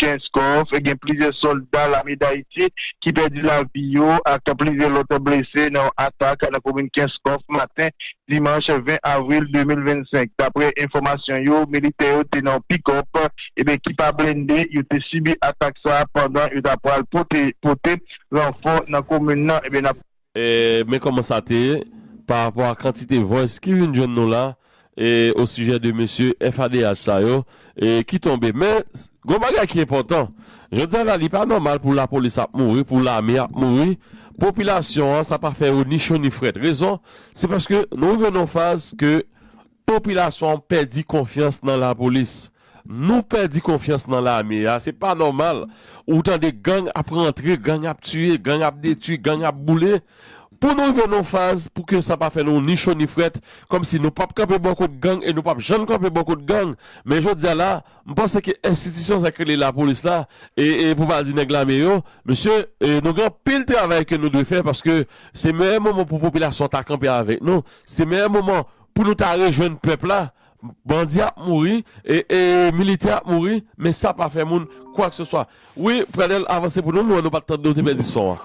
Kenskòf, gen plizyè sòlda lame Dayiti ki pèdi lavi yo ak plizyè lòt blese nan yon atak nan komin Kenskòf maten dimanch 20 avril 2025. Daprè enfòmasyon yo, militè yo te nan yon pikòp ki pa blende, yo te sibi atak sa pandan yo ta pral pote ranfò nan komin nan. Men kòman sa te ye, pa rapò a kantite voice ki vin jwenn nou la o sijè de mesye FADH sa yo ki tonbe. Men, gon bagay ki enpòtan. Jodi a la li pa nòmal pou lapolis ap mouri, pou lame ap mouri, popilasyon an sa pa fè yo ni cho ni frèt. Rezon, se paske nou rive nan yon faz ke Popilasyon an pèdi konfyans nan lapolis, nou pèdi konfyans nan lame a, se pa nòmal ou tande gang ap rantre, gang ap tiye, gang ap detui, gang ap boule. Pou nou rive nan yon faz pou ke sa pa fè nou ni cho ni frèt, kòm si nou pap kanpe bò kot gang e nou pap janm kanpe bò kot gang. Men jodi a la, m panse ke enstitisyon sa ki rele lapolis la e pou pa di nèg lame yo, mesye nou gen anpil travay ke nou dwe fè paske se meyè moman pou popilasyon ta kanpe avèk nou, se meyè moman. Pou nou ta rejwenn pèp la, bandi ap mouri, militè ap mouri, men sa pa fè moun kwakseswa. Wi, Pradel, avanse pou nou, mwen wè nou pa t tande, ou te pèdi son an.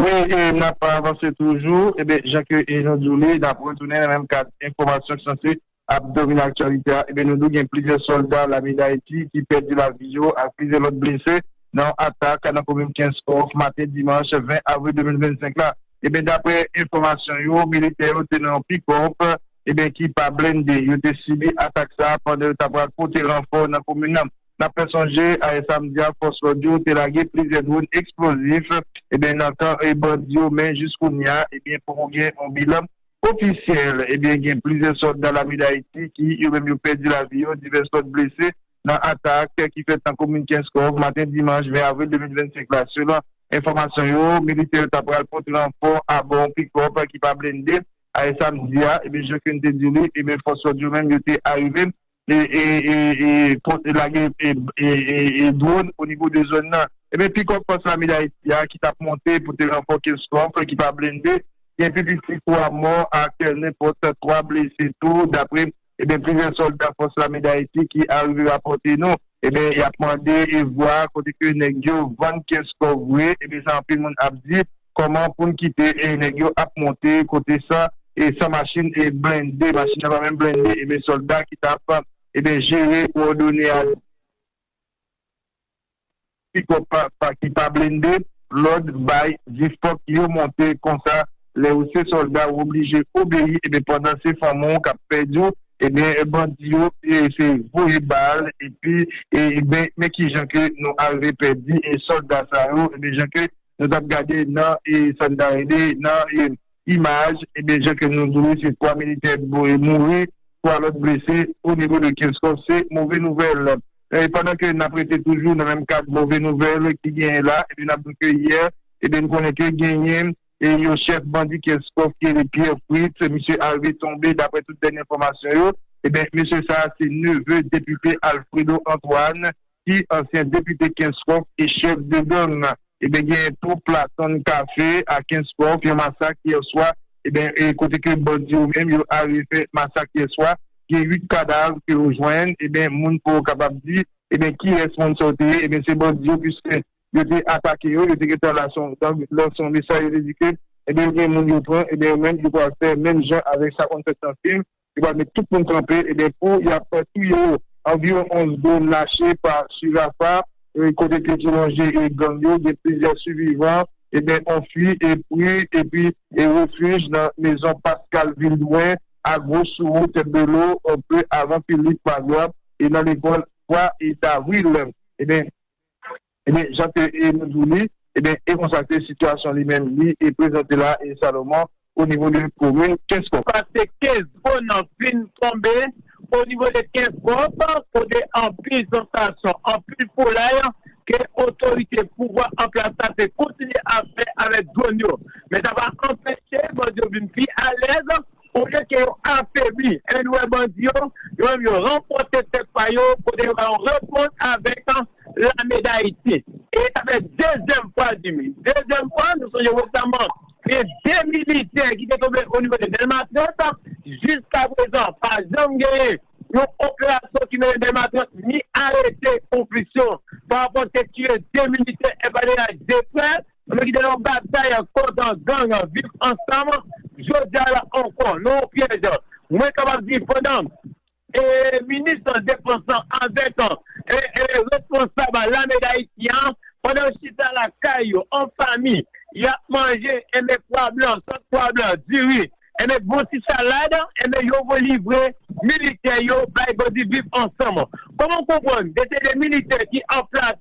Wi, n ap avanse toujou. Eben, jan ke nou di w li, n ap retounen nan menm kad enfòmasyon ki sanse ap domine aktyalite a. Eben, nou di w gen plizyè sòlda lame Dayiti ki pèdi lavi yo ak plizyè lòt blese nan yon atak nan komin Kenskòf maten dimanch 20 avril 2025 la. Ebyen daprè enfòmasyon yo militè yo te nan yon pikòp ebyen ki pa blende yo te sibi atak sa pandan yo ta pral pote ranfò nan komin nan. Nap fè sonje ayè samdi a fòs lòd yo te lage plizyè dronn eksplozif ebyen nan kan bandi yo men jiskounya ebyen poko gen yon bilan ofisyèl ebyen gen plizyè sòlda lame dayiti ki yo menm yo pèdi lavi yo divès lòt blese. nan atak ki fèt nan komin Kenskòf maten dimanch 20 avril 2025 la. Selon enfòmasyon yo, militè yo ta pral pote ranfò abò yon pikòp ki pa blende ayè samdi a. Ebyen jan Keny te di li, ebyen fòs lòd yo menm yo te arive e lage dwòn onivo de zòn nan. Ebyen pikòp fòs lame Dayiti a ki tap monte pote ranfò Kenskòf ki pa blende gen pi piti 3 mò ak nenpòt 3 blese tou dapre. Ebyen plizyè solda fòs lame dayiti ki arive rapòte nou ebyen yap mande vwa kote ke nèg yo vann pyès kò vre ebyen sa anpil moun ap di kòman poun kite nèg yo ap monte kote sa e san machin blende machin nan pa menm blende ebyen solda ki tap ebyen jere kowòdone a. Pickup papa ki pa blende lòd bay 10 fòk yo monte konsa lè ou se sòlda ou oblije obeyi ebyen pandan se fanmi w kap pèdi w ebyen bandi yo se voye bal epi ebyen men kijan ke nou arive pèdi sòlda sa yo ebyen jan ke nou tap gade nan sa n ta rele nan Imaj, Ebyen jan ke nou di se 3 militè mouri, 3 lòt blese o nivo de Kenskòf se move nouvèl. E pandan ke nap rete toujou nan menm kad move nouvèl ki genyen la, ebyen nap di ke yè ebyen nou konnen ke genyen yon chèf bandi Kenskòf ki rele Pierre Fritz, misye arive tonbe daprè tout dènye enfòmasyon yo, ebyen mesye sa se neve depite Alfredo Antoine ki ansyen depite Kenskòf e chèf de gang nan. Ebyen genyen tou Platon Café a Kenskòf, yon masak yèswa, ebyen e kote ke bandi yo menm yo are fè masak yèswa, gen 8 kadav ke yo jwenn, ebyen moun pouw kapab di ebyen kiyès moun sa yo te ye, ebyen se bandi yo puiske yo te atake yo, yo te gentan la se yon gang, donk se yon mesaj yo te di ke ebyen yo gen moun yo pran, ebyen yo menm yo pral fè menm jan avèk sa konn fèt nan film, Yo pral met tout moun kanpe ebyen pou yap touye yo. Anviwon 11 dronn lache pa su Rafah kote pye ki lonje gang yo gen plizyè sivivan ebyen anfui epri epi refuj nan mezon Pascal Vildouin a gwo sou wout Belo anpe avan Philippe Magloire e nan lekòl 3 davril ebyen. Ebyen, jan ke e nou di li, ebyen, e konsa ke sitiyasyon li menm li e prezante la e Salomon o nivo de komin Kenskòf. Pase Kenskò nan fin tonbe o nivo de Kenskòf kote anpil zantasyon, anpil foulay ke otorite pouvwa an plas la te kontinye ap fè avèk dwòn yo. Men sa pa anpeche bandi yo vin pi alèz Olye ke yo afebli èn wè bandi yo, yo menm yo ranfòse tèt pa yo kote yo ba yon repons avèk lame Dayiti. E sa fè dezyèm fwa l di wi. Dezyèm fwa, nou sonje resaman gen 2 militè ki te tonbe onivo de Dèlma 30, jiska prezan pa janm genyen yon operasyon ki mennen Dèlma 30 ni arete yon plis yon pa rapò ke tiye 2 militè FADH 2 frè. Nou ki te nan yon batay kont gang Viv Ansanm, jodi a la ankò, nan yon pyèj. Mwen kapab di pandan minis defans lan avèk responsab lame Dayiti an, pandan yo chita lakay yo an fanmi, y ap manje enben pwa blan, sòs pwa blan, diri, Enben bon ti salad enben yo vwe livre militè yo bay bandi viv ansanm kòman ou konprann de se de militè ki an plas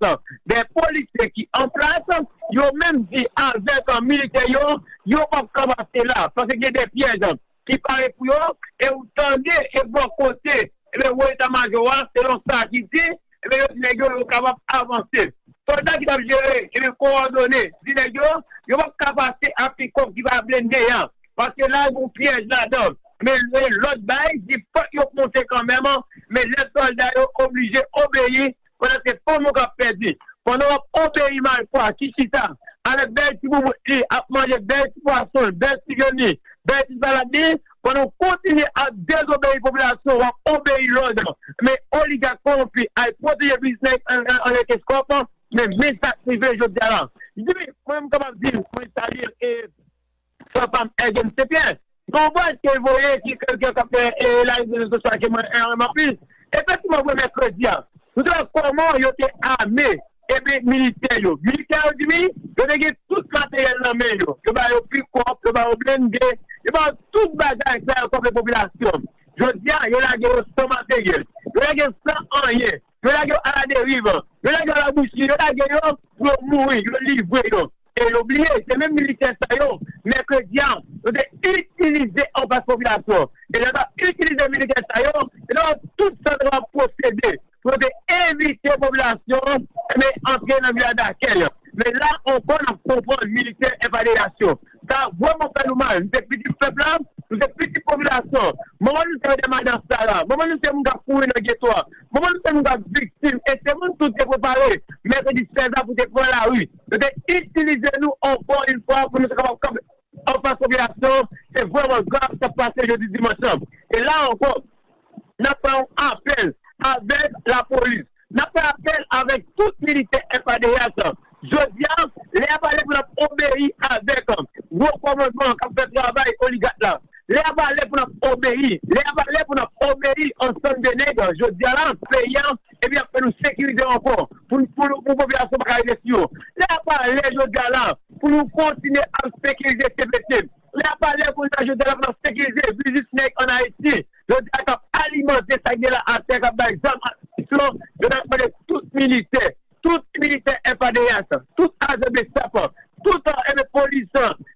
de polisye ki an plas yo menm di avèk militè yo yo pap ka pase la paske gen de pyèj ki pare pou yo e ou tande e bò kote Ebyen wo eta majò a selon sa ki di ebyen yo di nèg yo yo kapab avanse. Sòlda ki tap jere ebyen kowòdone di nèg yo yo pap ka pase a pikòp ki pa blende a paske la gen yon pyèj ladan men lòt bay di fòk yo k monte kanmèm men lè sòlda yo oblije obeyi pandan se fanm ou kap pèdi pandan wap obeyi malfwa ki chita avèk bèl ti boubout li ap manje bèl ti pwason l bèl ti vyann li bèl ti salad li pandan w kontinye ap dezobeyi popilasyon wap obeyi lòd men oligak kowonpi al pwoteje biznis anlè keskòp men men sak rive jodia la ui mwen menm kapab di mwen salye l e. Frè pam Ergen St Pierre gen yon vwayaj ke li voye ki ke gen kap fè elari sou rezo sosyo a ke mwen renmen anpil efektivman vre mèkredi a nou te wè kòman yo te ame epi militè yo militè yo di wi yo te gen tout materyèl nan men yo yo ba yo pikòp yo ba yo blende yo ba yo tout bagay sa yo kòm yon popilasyon jodi a yo lage yo san materyèl yo lage yo san anyen yo lage yo aladeriv, yo lage yo alabousi, yo lage yo pou yo mouri, yo livre yo. E yo bliye, se menm militè sa yo, mèkredi a, yo te itilize anfas popilasyon. E lè yo t ap itilize militè sa yo, yo te wè tout sa yo te kapab pwosede pou yo te evite popilasyon an antre nan vil la dakèy. Men la ankò, n ap konprann militè FADH yo. Sa a vrèman fè nou mal. Nou se pitit pèp la, nou se pitit popilasyon an. Manman nou se Medam Adas Sara. Manman nou se moun k ap kouri nan geto a. Manman nou se moun k ap viktim e se moun tou te prepare mèkredi 16 a pou te pran lari. Yo te itilize nou ankò yon fwa pou nou te kapab kanpe anfas popilasyon an. Se vrèman grav sa k pase jodi dimanch lan. E la ankò, Nap fè yon apèl avèk lapolis, nap fè apèl avèk tout militè FADH, jodi a lè a pa lè pou nap obeyi avèk gwo kòmandman kap fè travay oligat la, lè a pa lè pou nap obeyi, lè a pa lè pou nap obeyi ansann de nèg jodi a la. Peyi a epi yap fè nou sekirize ankò pou pou popilasyon paka rive sou yo, lè a pa lè jodi a la pou nou kontinye ap sekirize cpt. Li ap pale kounye a jodi a l ap nan sekirize biznis nèg an Ayiti jodi a k ap alimante sa k gen la atè k ap bay zam ak minisyon yo n ap mande tout militè tout militè FADH tout ajan bsap tout enben polis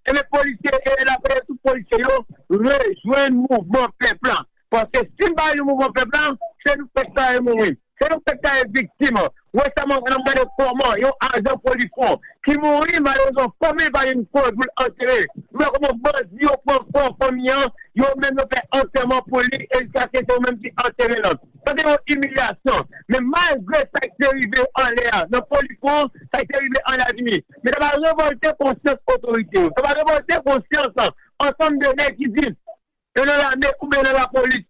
enben polisye e n ap mande tout polisye yo rejwenn mouvman pèp la. Paske si m pa yon mouvman pèp la, se nou menm k ta ye mouri. Se nou menm k ta ye viktim. Resaman an ap gade kòman yon ajan polisfon ki mouri, malerezman fanmi l pa jwenn kò l pou l antere. M wè kòman bandi yo pran kò fanmi an, yo menm yo fè antèman pou li e jiskaske se yo menm ki antere l. Sa se yon imilyasyon. Men malgre sa k te rive anlè a nan polisfon, sa k te rive an Lavini, men sa pa revòlte konsyans otorite yo. Sa pa revòlte konsyans ansanm de nèg ki di. Yo nan lame oubyen nan lapolis.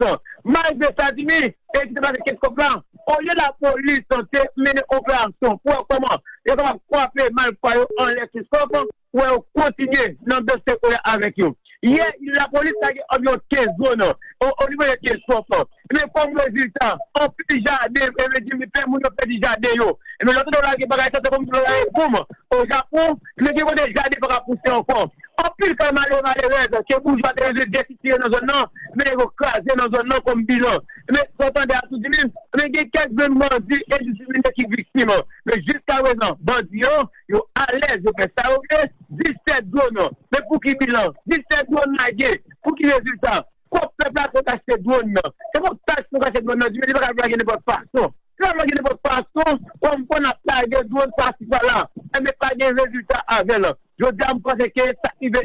Malgre sa Jimmy e ki te pase kèk kòb la, olye lapolis te mennen operasyon pou wè kòman yo kapab kwape malfwa yo anlè sou sof pou wè yo kontinye nan dosye kolè avèk yo. Yè lapolis lage anviwon 15 dwòn onivo de vil sof. Ebyen kòm rezilta, anpil jaden, mwen vle di plen moun yo pèdi jaden yo. Ebyen lè w tande yo lage bagay sa se kòmsi yo lage boum o Japon, ebyen gen kote jaden pa ka pouse ankò. Anpil kay malere malerèz ke boujwa te rive byen sitire nan zòn nan, ebyen nèg yo kraze nan zòn nan kòm bilan. Ebyen sa w tande a tou di min, ebyen gen kèk grenn bandi endisipline ki viktim. Ebyen jiskaprezan bandi yo, yo alèz yo fè sa yo vle, 17 dwòn, ebyen pouki bilan? 17 dwòn lage, pouki rezilta? Kòb pèp la pou achte dwòn nan. Se kòb taks pou achte dwòn nan di men li pa ka lage nenpòt fason. Si lap lage nenpòt fason, kòm fò nap lage dwòn pasi pala, enben pa gen rezilta avèl. Jodi a m panse ke sak rive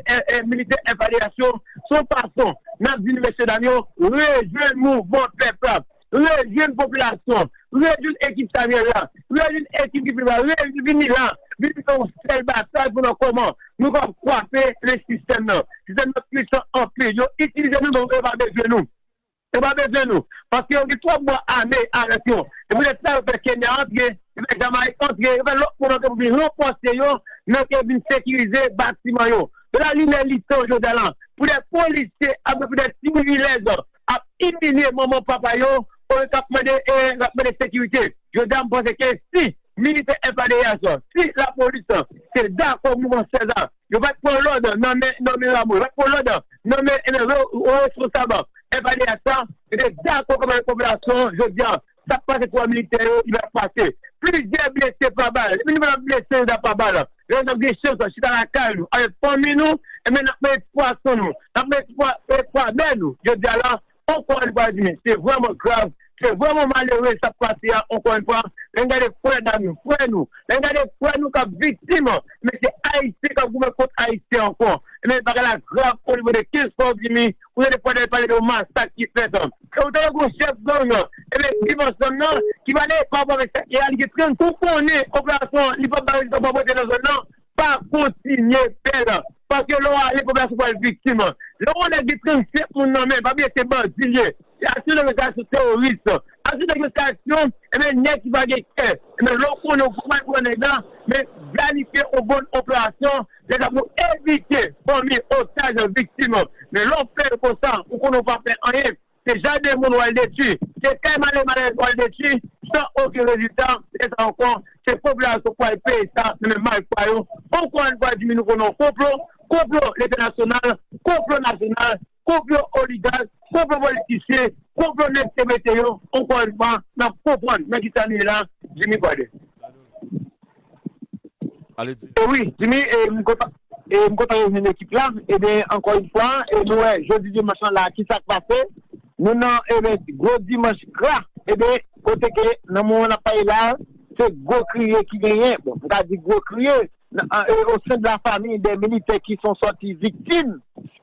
militè FADH yo son fason nap di mesye dam yo rejwenn mouvman pèp la. rejwenn popilasyon an, rejwenn ekip Samuel la, rejwenn ekip Guy Philippe la, rejwenn vini la, vini fè yon sèl batay pou nou kòman nou kapab kwape le sistèm nan. Sistèm nan puisan anpil. Yo itilize nou men yo pa bezwen nou. Yo pa bezwen nou. Paske yo gen twòp bwa ame avèk yo. Se poutèt sa yo fè Kenya antre, yo fè Jamayik antre, yo fè lòt moun antre pou vin ranfòse yo nan ke vin sekirize batiman yo. Donk la li lè li tan jodi a la pou dè polisye avèk pou dè timoun ilèz. ap imilye manman papa yo olye kap mande lap mande sekirite jodya m panse ke si militè FADH si lapolis te dakò mouman 16 a yo pat pran lòd nan men nan men Rameau yo pat pran lòd nan men responsab FADH la yo te dakò kòmandan popilasyon jodya Sa k pase 3 militè yo ki pa pase. Plizyè blese pa bal. Depi nou pa t ap blese nou ta pa bal. Lè nou t ap gen chans nan chita lakay nou avèk fanmi nou enben n ap manje ti pwason nou, n ap manje ti pwa pwa bè nou. Jodi a la ankò yon fwa n di men se vrèman grav, se vrèman malere sa k pase a ankò yon fwa. Lè n gade frè dam yo, frè nou, lè n gade frè nou k ap viktim men se Ayisyen k ap goumen kont Ayisyen ankò enben bagay la grav onivo de 15 fwa w di mi. ou tande pwèl al pale de yon masak ki fèt an e ou tande gon chèf gang nan ebyen viv ansanm nan ki pale parapò avèk sa ki reyalite tren n tou konnen operasyon an li pap bay rezilta pa pote nan zòn nan pa kontinye fè l paske lè w ale popilasyon pral viktim lè w wè yon nèg gen 37 moun nan men pa bliye se bandi l ye se aksyon nèg yo se aksyon teworis aksyon nèg yo se aksyon ebyen nèg ki pa gen kè ebyen lè w konnen w fòk w al pran nèg la men planifye yon bon operasyon. Se sa pou evite fanmi otaj an viktim an. Men lè w fè yo konsa, ou konnen w pa fè anyen. Se jaden moun w al detwi. Se kay male malèz w al detwi san okenn rezilta. Lè sa a ankò, se popilasyon k pral peye sa nan men malfra yo. Ankò youn fwa di mi nou konnen yon konplo. Konplo leta nasyonal, konplo nasyonal. konplo oligark, konplo politisyen, konplo nèg te mete yo ankò yon fwa nap konprann nan kisa nou ye la Jimmy Kòdè. E wi Jimmy e m kontan e m kontan rejwenn ekip la ebyen ankò yon fwa e nou wè jodi dimanch lan la kisa k pase nou nan ebyen gwo dimanch gra ebyen kote ke nan moman nap pale la se gwo kriye ki genyen bon m ka di gwo kriye nan o sen de la famiy dè militè ki son sòti viktim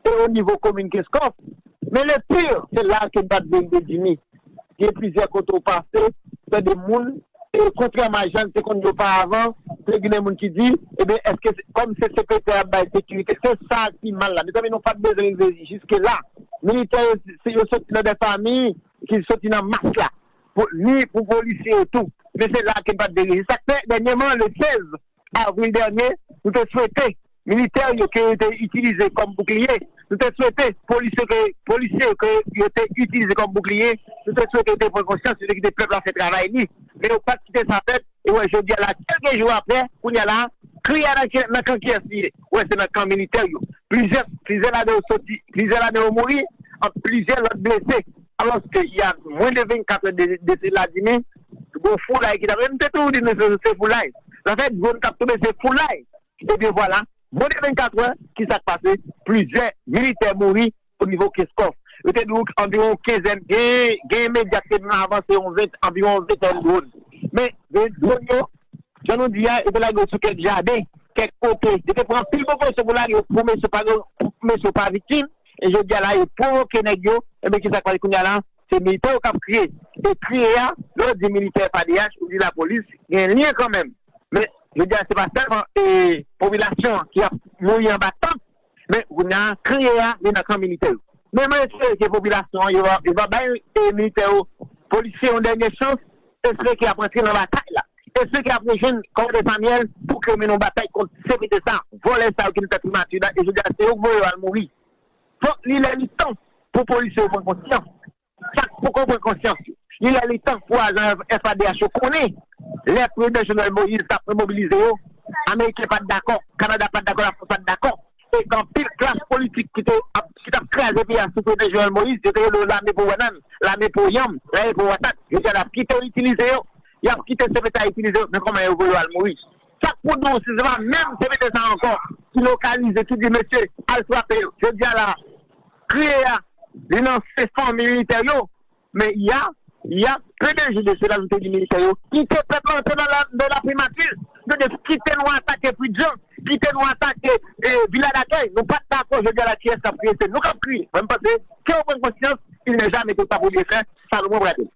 e o nivo komin Kenskòf, men le pire se la ke bat vle rive Jimmy, gen plizyè kote ou pase tande moun e kontrèman a jan n te konn di oparavan te ginen moun ki di eben eske se kòm se CPT a ap bay sekirite se sa ki mal la mezanmi nou pat bezwen rive jiske la militè yo se yo soti nan dè fami ki soti nan mas la pou ni pou polisye yo tou men se la ke n pat vle rive se sa k fè dènyèman le 16 avril dènye, nou te swete militè yo ke yo te itilize kòm boukliye, nou te swete polisye yo ke yo te itilize kòm boukliye, nou te swete yo te pran konsyans, yo te kite pèp la fè travay li, men yo pat kite sa fèt, e wè jodi a la kèlke jou aprè, kounye a la, kri a nan kan kiyès li ye? Wè se nan kan militè yo, plizyè ladan yo soti, plizyè ladan yo mouri, plizyè lòt blese, alòske y a mwen de 24 è de Vladimir. Bon foulay ki tap e m te toujou di mesye se foulay zafè dwon kap tonbe se foulay ebyen vwala bon de 24 wè kisak pase plizyè militè mouri o nivo keskòf yo te di w anviwon kenzèn gen medya ki te di nou avanse yon anviwon ventèn dwon men dwon yo jan nou di a yo te lage yo sou kèk jaden kèk kote yo te pran anpil prekosyon pou lage yo pou mesye pa viktim e jodi a la yo pwovoke nèg yo ebyen kisak pase kounya la. Se militè yo kap kriye e kriye a lè w di militè padeyach ou di lapolis gen lyen kanmenm men jodi a se pa sèlman popilasyon an ki ap mouri anba tank men kounye a kriye a li nan kan militè yo men mwen espere ke popilasyon an yo va bay militè yo polisye yon dènye chans espere ke y ap rantre nan batay la espere ke y ap rejwenn kòmandè Samyèl pou ke yo mennen yon batay kont CPT sa vòlè sa yo ki nan tèt primati la e jodi a se yo k voye yo al mouri. Fòk li lè li tan pou polisye yo pran konsyans sa k poko pran konsyans yo. Li lè li tan pou ajan FADH yo konnen lè Prezidan Jovenel Moïse tap remobilize yo, Ameriken pat dakò, Kanada pat dakò, Lafrans pat dakò e anpil klas politik ki te ap ki tap kraze peyi a sou Prezidan Jovenel Moïse yo te rele yo lame pou banann, lame pou yanm, lame pou patat. Jodi a nap kite yo itilize yo, yap kite CPT a itilize yo men kòman yo vwe yo al mouri. Sak pou diw si se pa menm komite sa ankò ki lokalize ki di mesye al frape yo jodi a la a kriye a li nan se fanmi militè yo men ya ya pdg de sila nou te di militè yo kite pèp la antre nan nan la primati nou te di kite nou atake pridjan kite nou atake e vila dakèy nou pat dakò jodi a la kiyès kap kriye se nou kap kriye mwen m panse kew pran konsyans il nè jamè twò ta pou byen fè salomon brade.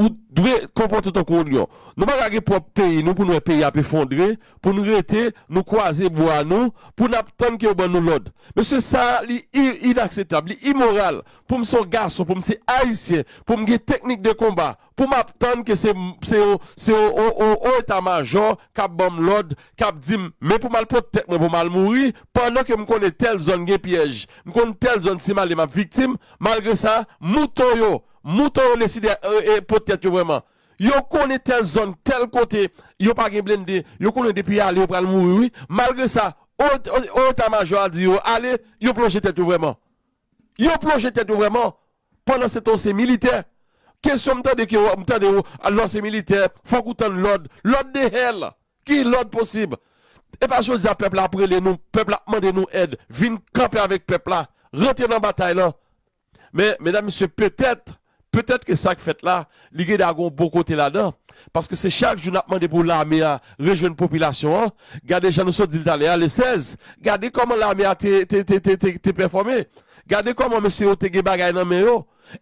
Ou dwe konpòte w tankou yon lyon. Nou pa ka gen pwòp peyi nou pou n wè peyi ap efondre pou n rete nou kwaze bwa nou pou n ap tann ke yo ban nou lòd. Mesye sa li inaksetab, li imoral pou m se yon gason, pou m se Ayisyen, pou m gen teknik de konba, pou m ap tann ke se yon se yon wo eta majò k ap ban m lòd, k ap di m men pou m al pot tèt mwen pou m al mouri pandan ke m konnen tèl zòn gen pyèj, m konn tèl zòn si m ale m ap viktim. Malgre sa, mouton yo. Mouton yo deside pot tèt yo vrèman. Yo konnen tèl zòn, tèl kote, yo pa gen blende, yo konnen depi y ale yo pral mouri wi. Malgre sa, o eta majò a di yo ale, yo plonje tèt yo vrèman. Yo plonje tèt yo vrèman. Pandansetan w se militè. Kesyon m tande ke m tande w lè w se militè, fòk ou tann lòd. Lòd de hell! Ki lòd posib? Epa jodi a pèp la ap rele nou, pèp la ap mande nou èd. Vin kanpe avèk pèp la. Rantre nan batay lan. Men, medam mesye, petèt, petèt ke sa k fèt la, li gen dwa gen yon bon kote ladan, paske se chak jou n ap mande pou lame a rejwenn popilasyon an, gade jan nou sot di l talè a, le 16, gade kòman lame a te, te, te, te, te, te pèfòme, gade kòman mesye yo te gen bagay nan men yo,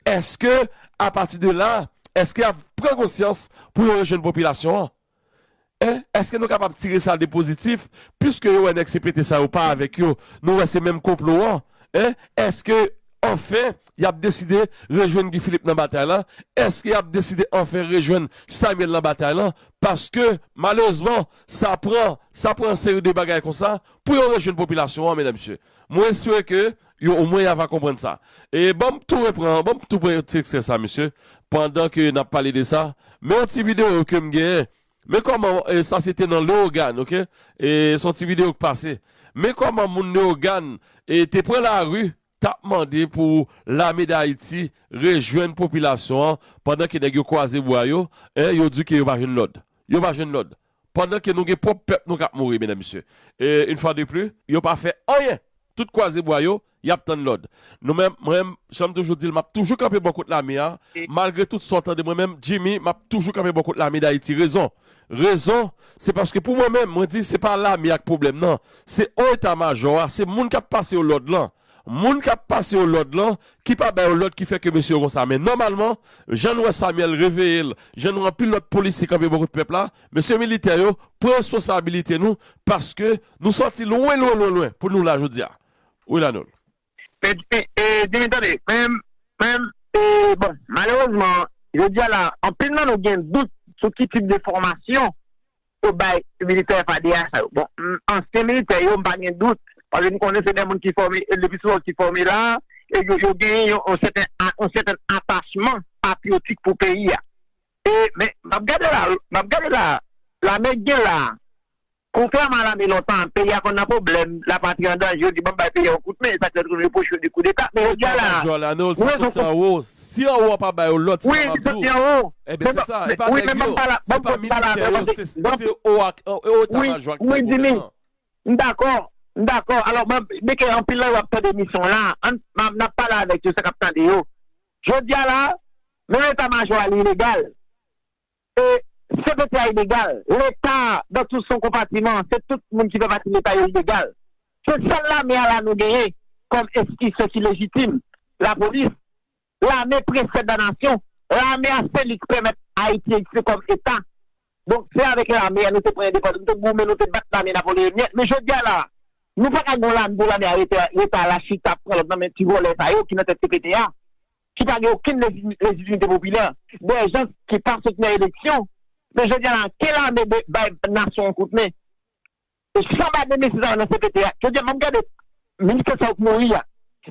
èske, apati de la, èske y ap pran konsyans pou yo rejwenn popilasyon an? E, èske nou kapab tire sa de pozitif, piske yo wè nèg CPT sa yo pa avèk yo, nou wè se menm konplo an? E, èske, anfen, y ap deside rejwenn Guy Philippe nan batay lan? Èske y ap deside anfen rejwenn Samuel nan batay lan? Paske, malerezman, sa pran, sa pran yon seri de bagay konsa, pou yo rejwenn popilasyon an, medam mesye. Mwen espere ke, Yo o mwen ya va konprann sa. E banm tou repran, banm tou pran yon ti ekstrè sa mesye, pandan ke nap pale de sa, men yon ti video kem genyen, men kòman sa se te nan Leogane ok, e se yon ti video ki pase, men kòman moun Leogane e te pran lari tap mande pou lame dayiti rejwenn popilasyon an, pandan ke nèg yo kwaze bwa yo, e yo di ke yo pa jwenn lòd, yo pa jwenn lòd, Pandan ke nou gen pwòp pèp nou kap mouri medam mesye une fois de plus yo pa fè anyen tout kwaze bwa yo yap tann lòd nou men mwen janm toujou dil map toujou kanpe bò kot lame a malgre tout sa w tande mwen menm Jimmy map toujou kanpe bò kot lame dayiti rezon rezon se paske pou mwen menm mwen di se pa lame a k pwoblèm nan se o eta majò a se moun kap pase yo lòd lan Moun kap pase yo lòd lan ki pa ba yo lòd ki fè ke mesye yo konsa men nòmalman jan nou wè Samuel reveye l jan nou wè anpil lòt polisye kanpe bò kot pèp la mesye militè yo pran responsabilite nou paske nou sòti lwen lwen lwen lwen pou nou la jodi a wi Lanul. Pèdi e dimi tande men men e bon malerezman jodi a la anpil nan nou gen dout sou ki tip de fòmasyon Ou bay militè fadea sa yo. Bon m ansyen militè yo m pa gen dout paske m konnen se de moun ki fòme le pi souvan ki fòme la e yo genyen yon sèten yon sèten atachman patriyotik pou peyi a e men m ap gade la m ap gade la lame k gen la kontrèman a lame lontan peyi a konn nan pwoblèm lapatri an danje yo di banm bay peyi a yon kout men e sa k fè yo toujou repwoche yo de koudeta men jodi a la pou rezon Si anwo a pa ba yo lòd sa map di w enben se sa e pa nèg yo se pa militè yo se ou etamajò ak nèg ou menm nan. M dakò, m dakò alò m de ke anpil nan yo ap tande emisyon la an n ap pale avèk yo sa k ap tande yo. Jodi a la menm etamajò a li ilegal. E se pèp la inegal. Leta dan tou son konpatiman, se tout moun ki fè pati leta yo inegal. Se sèl lame a la nou genyen kòm enstitisyon ki lejitim, lapolis, lame presè dan nasyon. Lame a seli ki pèmèt Ayiti egziste kòm eta. Donk se avèk lame a nou te pran endepandans, nou te goumen, nou te bat lame napoleonyèn. Men jodi a la a, nou pa ka gen yon lame pou lame a rete leta a la chita ap pran lòd nan men ti vòlè sa yo ki nan tèt CPT a. ki pa gen okenn lejitimite popilè, de jan ki pa sot nan eleksyon, men jodi a la ke lame bay nasyon an kout men, e san ba de mesye sa yo nan cpt a, jodi a map gade militè sa yo k mouri a,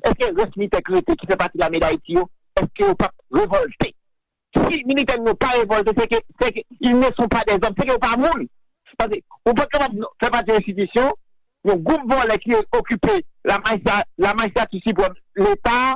eske rès militè k rete ki fè pati lame dayiti yo, eske yo pap revolte? Si militè nou yo pa revolte se ke, se ke ils ne sont pas des hommes, se ke yo pa moun, paske ou pat kapab fè pati yon enstitisyon, yon gwoup vòlè ki okipe la majistra, la majistati siprèm, leta.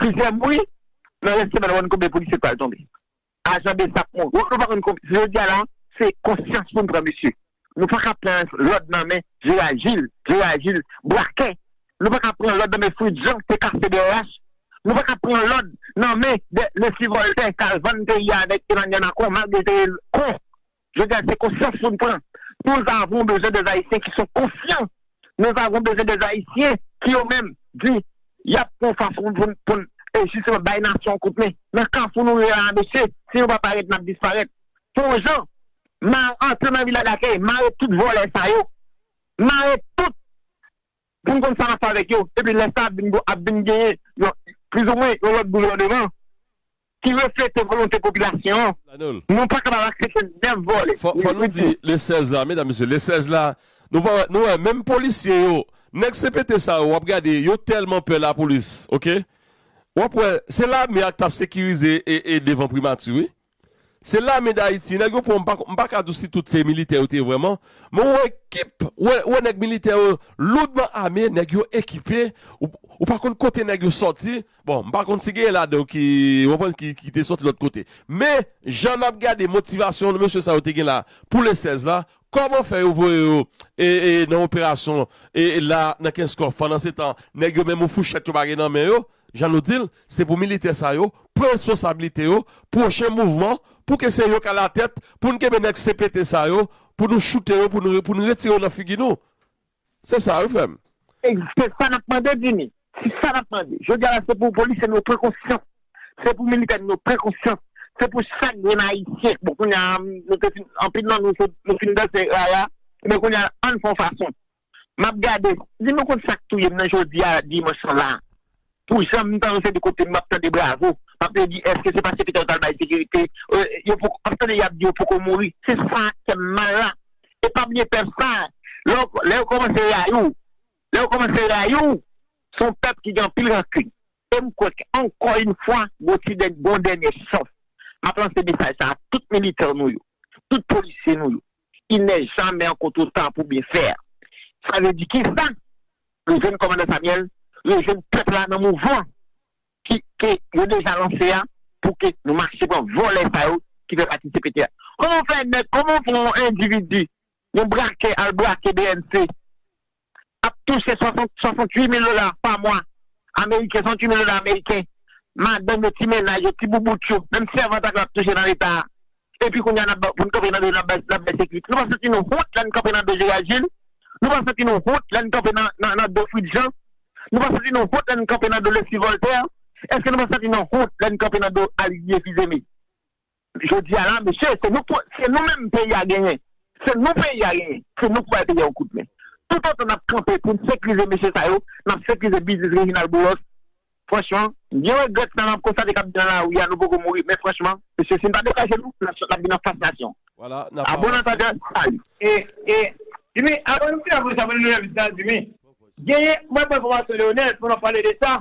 Plizyè bri, nan rès semèn wap konn konbyen polisye ki pral tonbe. Ajan bsap mouri. Wap konn pa konn konbyen. Se jodi a la, se konsyans poun pran mesye. Nou paka pran lòd nan men Jera Jil, Jera Jil brakè. Nou paka pran lòd nan men Fritz Jean ki te kase brh. Nou paka pran lòd nan men Lesly Voltè ki al vann peyi a avèk Emmanuel Macron malgre li te rele kon. Jodi a se konsyans pou n pran. Nous avons besoin des Haïtiens qui sont conscients. Nous avons besoin des Haïtiens ki yo menm di y ap pran fason pou n pou n jisteman bay nasyon an kout men. Nan kafou nou ye la a mesye, si nou pa parèt n ap disparèt. Fon jan, mare antre nan vila dakèy, mare tout vòlè sa yo, mare tout. pou n konn sa n ap fè avèk yo, epi lè sa ap vin genyen yon plizoumwen yon lòt gouvèneman ki reflete volonte popilasyon an, nou pa kapab aksepte 9 vòlè. Fò nou di le 16 la, medam mesye, le 16 la, nou pa wè, nou wè menm polisye yo, nèg CPT sa yo w ap gade yo tèlman pè lapolis, ok, w ap wè se lame a k t ap sekirize devan primati wi. Se lame dayiti nèg yo pran m pa ka di w si tout se militè yo te ye vrèman men ou wè ekip ou wè nèg militè yo loudman ame nèg yo ekipe ou pa konn kote nèg yo sòti bon m pa konn si genyen ladan yo ki ou konprann ki te sòti lòt kote men jan n ap gade motivasyon mesye sa yo te gen la pou le 16 la Koman fè yo voye yo nan operason la nan kenskòf pandan se tan nèg yo menm yon fouchèt yo pa gen nan men yo jan nou dil se pou militè sa yo pran responsabilite yo pwochen mouvman pou ke se yo ka la tèt pou nou kenbe nèg CPT sa yo pou nou choute yo pou nou retire yo nan figi nou. Se sa wi frem. Se sa nap mande Jimmy. Se sa nap mande. Jodia la se pou polisye nou yo pran konsyans. Se pou militè nou yo pran konsyans. Se pou chak grenn ayisyen. Bon kounya nou te fin anpil nan nou nou fin danse rara. Ebyen kounya ann fon fason. Map gade. Di nou konn sak touyem nan jodia dimanch lan la. Pou jan m tan se de kote m map tande bravo map de di eske se paske peter tal bay sekirite yo poko map tande yap di yo poko mouri se sa kèm mal la e pa bliye pèp sa lè yo komanse rayi w lè yo komanse rayi w son pèp ki gen anpil rankun e m kwè ke ankò yn fwa gon ti gon dènye chans map lanse mesaj sa a tout militan nou yo tout polisye nou yo Il n'est jamais encore trop tard pour bien faire sa vle di kisa? Rejwenn kòmandan Samyèl, rejwenn pèp la nan mouvman ki ke yo deja lanse a pou ke nou mache pran vòlè sa yo ki fè pati cpt a. Kòman w fè nèg, kòman w fè yon endividi, yon brakè al brake bnc ap touche 68 mil dola pa mwa ameriken, 68 mil dola ameriken, madanm yo, ti mennaj yo, ti boubout yo, menm sèvant ak la ap touche nan leta a. Epi kounye a nap poun kanpe nan do yo nap bay nap bay sekirite. Nou pa santi nou wont lèn kanpe nan do Gerard Gilles? Nou pa santi nou wont lèn kanpe nan nan do Fritz Jean? Nou pa santi nou wont lèn kanpe nan do Leslie Voltaire? Eske nou pa santi nan wont lèn kanpe nan do Alidie Fils-Aimé? Jodi a la mesye se nou se nou menm peyi a genyen se nou peyi a genyen se nou ki bay peyi a yon kout men tout otan nap kanpe poun sekrize mesye sa yo nap sekrize biznis Reginald Boulos franchman m byen regrèt sa map konstate kap di nan lari a nou poko mouri men franchman mesye si n pa degaje nou nasyon nap vin anfas nasyon a bon antandè salut. E e Jimmy avan nou fini avanse avan nou leve vizit la Jimmy genyen mwen pran enfòmasyon Leonel pandan wap pale de sa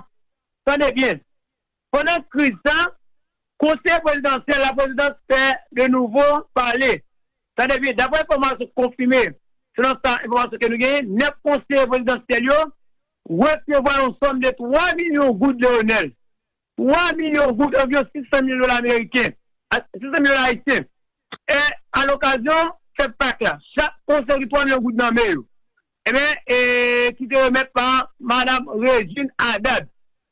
tande byen Pandan kriz sa, Konsèy Prezidansyèl Laprezidans fè de nouvo pale. Sa te vle, daprè enfòmasyon konfime, selon sa enfòmasyon ke nou genyen, 9 konseye prezidansyèl yo resevwa yon sòm de 3 milyon goud Leonel. 3 milyon goud, anviwon 600 mil dola ameriken, 600 mil dola ayisyen. E a lokazyon fèt Pak la, chak konseye ki 3 milyon goud nan men yo, enben, e ki te remèt pa Madam Régine Adad.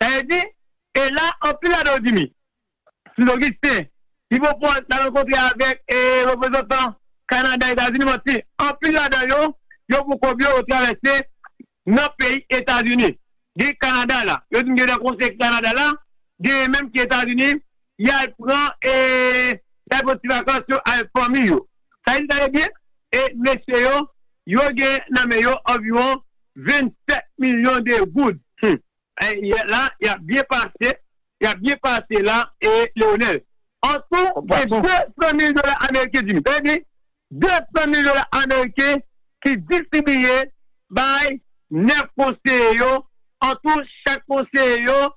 Sa vle di, e la anpil ladan yo dimi. Sin Ogisten, Ipopòt la rankontre avèk e reprezantan Kanada, Etazini manti. Anpil ladan yo, yo pou kòb yo, yo travèse nan peyi Etazini. Gen Kanada la, yo di m gen nan konsèy ki Kanada la, genyen menm ki Etazini, y al pran e y al pran ti vakans yo avèk fanmi yo. Sa vle di tande byen, e mesye yo, yo gen nan men yo anviwon 27 milyon de goud. Hum! Yè la yap byen pase. Yap byen pase la e Leonel. Antou gen 200 mil dola ameriken Jimmy tande byen 200 mil dola ameriken ki distribiye bay 9 konseye yo antou chak konseye yo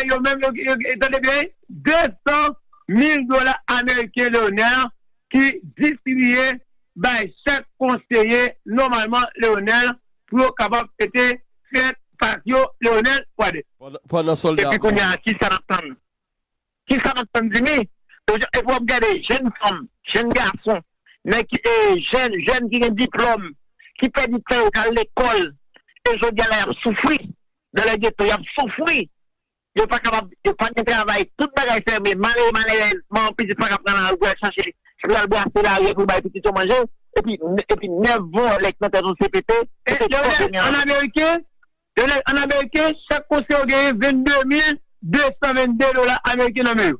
yo menm yo tande byen 200 mil dola ameriken Leonel ki distribiye bay chak konseye nòmalman Leonel pou yo kapab fete fèt Fazio Leonel Pradès. Epi kounya kisa nap tann? Kisa nap tann Dimi? Epi wap gade jenn fanm, jenn gason, nèg ki jenn, jèn ki gen diplòm, ki pèdi tan yo kal lekòl e jodi a la yap soufri, nan lè geto yap soufri. Yo pa kapab, yo pa gen travay, tout bagay fèmen, malere malerèz, manman pitit pa ka pran lari pou al chache, pou l al brase lari pou l bay pitit yo manje, epi, epi nèf vòlè ki nan tèt yon CPT, se fòk yo gen an. An ameriken, Lionel, an ameriken, chak konseye yo genyen 22 mil 222 dola ameriken nan men yo.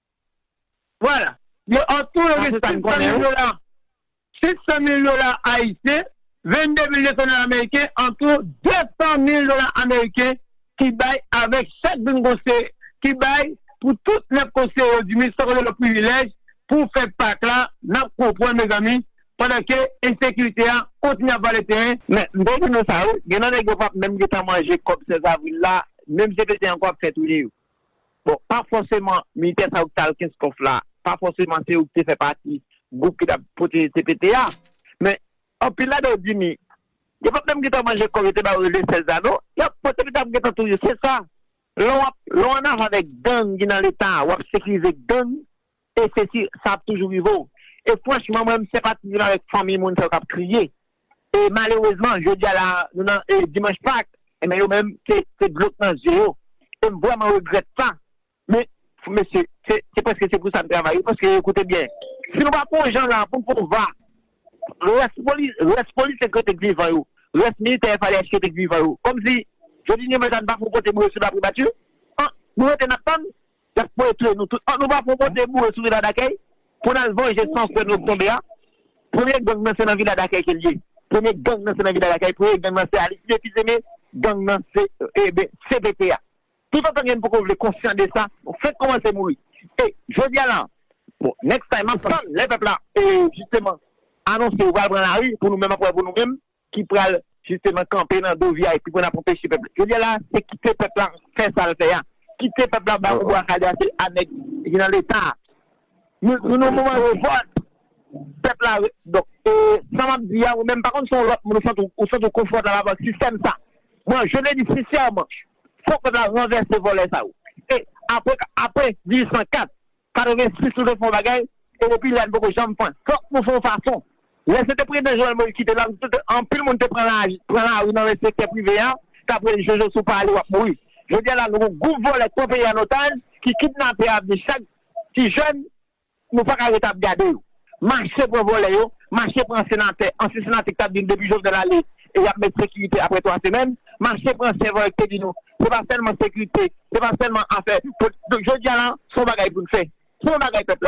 Vwala. Yo an tou yo gen 500 mil dola, 500 mil dola ayisyen, 22 mil 200 dola ameriken, an tou 200 mil dola ameriken ki bay avèk chak grenn konseye, ki bay pou tout 9 konseye yo diminis san konte lòt privilèj pou fè pak la, n ap konprann mezanmi, pandan ke ensekirite a kontinye ap vale teren. Men, m te di nou sa wi, gen nan nèg yo pa p menm gen tan manje kòb 16 avril la, menm se fete ankò y ap fè touye yo. Bon, pa fòseman militè sa yo ki t al Kenskòf la, pa fòseman se yo ki te fè pati gwoup ki t ap pwoteje CPT a. Men, anpil ladan yo dimi. Yo pa t menm gentan manje kòb yo te ba yo rele sèlzano. Y ap pran CPT a ap gentan touye. Se sa. Lè w ap, lè w annava avèk gang ki nan Leta a, w ap sekirize gang E se si sa ap toujou rive w. E franchman mwen m senpatize menm avèk fanmi moun sa yo k ap kriye. E malerezman jodi a la a nou nan dimanch pak enben yo menm se dlo k nan zye yo. E m vrèman regrèt sa. Men mesye se prèske se pou sa n travay wi paske koute byen si nou pa fè yon jan la a pou n fè yon va rès polisye k rete k vivan yo rès militè FADH k rete k vivan yo kòmsi jodi dimanch la n pa fè yon kote pou yo sou lapribati an nou rete n ap tann Yap voye touye nou tout. An nou pa pran bòt e boure sou vila dakèy pou nal vanje san frè nou k tonbe a. Premye gang nan se nan vila dakèy kel ye. Premye gang nan se nan vila dakèy. Premye gang nan se Alistide Fils Aimé. Gang nan se eben cpt a. Tout antan gen poko vle konsyan de sa nou fenk kòmanse mouri. E jodia la bon next time map tann lè pèp la e jisteman anonse yo pral pran lari pou nou menm ap wè pou nou menm. ki pral jisteman kanpe nan do vip pou n ap anpeche pèp la. Jodi a la a, se kite pèp la fè sa l fè a. Kite pèp la bay oubwa kale a, se a nèg ki nan leta a. Nou nan yon moman revòlt. Pèp la re. Donk, e sa m ap di a, ou menm, pa konn si se yon lòt moun ou santi w ou santi w konfòtab avèk sistèm sa. Mwen, je le dis sinsèman, fòk pèp la ranvèse vòlè sa yo. E apre ka apre 1804, 86 nou dwe fè yon bagay ke popilè a nou poko janm fè. Fòk nou fè yon fason. Lè se te prezidan Jovenel Moïse ki te la, anpil moun te pran lari nan sektè prive a k ap rele Jojo si w pa ale w ap mouri. Jodi a la nou gon gwoup vòlè k pran peyi a an otaj, ki kidnape avni chak ti jèn, nou pa ka rete ap gade yo. Mache pran vòlè yo, mache pran senatè, ansyen senatè ki tap di nou depi Jovenel ale yap met sekirite aprè 3 semèn, mache pran sèvan yo ki te di nou se pa sèlman sekirite, se pa sèlman afè, jodi a la son bagay pou n fè, se yon bagay pèp la.